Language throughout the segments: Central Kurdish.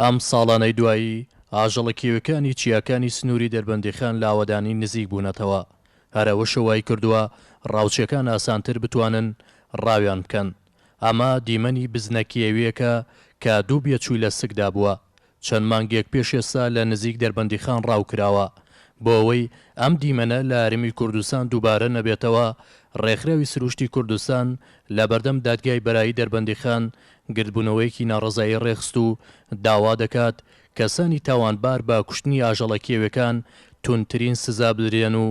ئەم ساڵانەی دوایی، ئاژەڵە کێویەکانی چیاکانی سنووری دەربەندیخان لە ئاوەدانی نزیک بوونەتەوە، هەر ئەوەشە وای کردووە ڕاوچەکان ئاسانتر بتوانن ڕاویان بکەن، ئەمە دیمەنی بزنە کێوییەکە کە دوو بێچووی لە سکدا بووە، چەند مانگێک پێش ئێستا لە نزیک دەربەندیخان ڕاو کراوە، بۆ ئەوەی ئەم دیمەنە لە هەرێمی کوردستان دووبارە نەبێتەوە، ڕێکخراوی سروشتی کوردستان لە بەردەم دادگای بەرایی دەربەندیخان گردبوونەوەیەکی ناڕەزایی ڕێکخست و داوا دەکات کەسانی تاوانبار بە کوشتنی ئاژەڵە کێویەکان توندترین سزا بدرێن و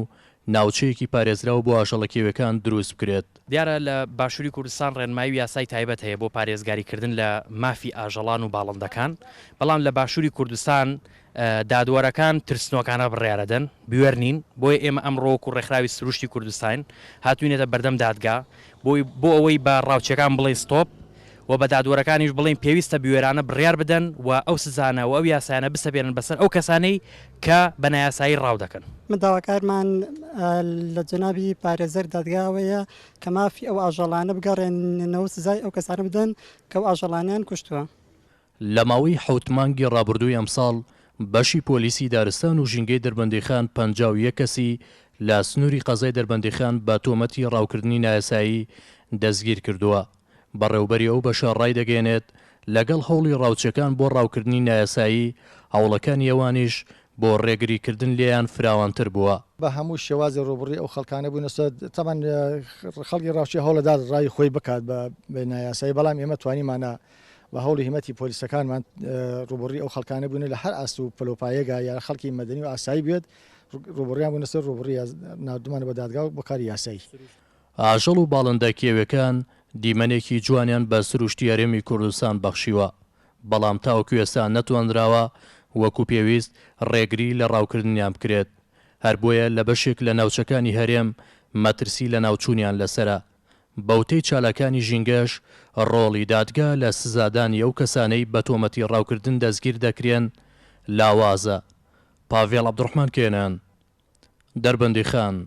ناوچەیەکی پارێزراو بۆ ئاژەڵە کێویەکان دروست بکرێت. دیارە لە باشووری کوردستان ڕێنمایی و یاسای تایبەت هەیە بۆ پارێزگاریکردن لە مافی ئاژەڵان و باڵندەکان، بەڵام لە باشووری کوردستان دادوەرەکان ترسنۆکانە بڕیارەدەن، بوێر نین، بۆیە ئێمە ئەمڕۆ وەکو ڕێکخراوی سروشتی کوردستاین هاتوینەتە بەردەم دادگا بۆی بۆ ئەوەی بە ڕاوچیەکان بڵێین ستۆپ و بە دادوەرەکانیش بڵێین پێویستە بوێرانە بڕیار بدەن و ئەو سزانە و ئەو یاسایانە بسەپێنن بەسەر ئەو کەسانەی کە بە نایاسایی ڕاو دەکەن. ئێمە داواکارمان لە جەنابی پارێزەر دادگا ئەوەیە کە مافی ئەو ئاژەڵانە بگەڕێننەوە سزای ئەو کەسانە بدەن کە ئەو ئاژەڵانەیان کوشتوە. لە ماوەی حەوت مانگی ڕابردووی ئەمساڵ بەشی پۆلیسی دارستان و ژینگەی دەربەندیخان پەنجا و یەک کەسی لە سنووری قەزای دەربەندیخان بە تۆمەتی ڕاوکردنی نایاسایی دەستگیر کردووە. بەڕێوەبەری ئەو بەشە ڕایدەگەیەنێت، لەگەڵ هەوڵی ڕاوچەکان بۆ ڕاوکردنی نایاسایی، هەوڵەکانی ئەوانیش بۆ ڕێگری کردن لێیان فراوانتر بووە. بە هەموو شێوازێ ڕووبڕی ئەو خەڵکانە بووینە. تەبعەن خەڵکی ڕاوچی هەوڵەدا ڕای خۆی بکات بە بێ نایاسایی، بەڵام ئێمە توانیمانە بە هەوڵی هیمەتی پۆلیسەکانمان ڕوبڕی ئەو خەڵکانە بوون لە هەر ئاست و پلۆپایەگا یا خەڵکی مەدەنی و ئاسایی بێت ڕوبڕیان بوون لەسەر ڕوبڕی نردمانە بە دادگا و بەکاری یاسایی. ئاژەڵ و باڵندە کێوێکان دیمەنێکی جوانیان بە سروشتی هەرێمی کوردستان بەخشیوە، بەڵام تاوەکو ئێستا نەتوانراوە وەکو پێویست ڕێگری لە ڕاوکردنیان بکرێت، هەر بۆیە لە بەشێک لە ناوچەکانی هەرێم مەترسی لەناوچوونیان لەسەرە. بەوتەی چالاکانی ژینگەش، ڕۆڵی دادگا لە سزادانی ئەو کەسانەی بە تۆمەتی ڕاوکردن دەستگیر دەکرێن لاوازە. پاڤێڵ عەبدوڕەحمان کێنان، دەربەندیخان.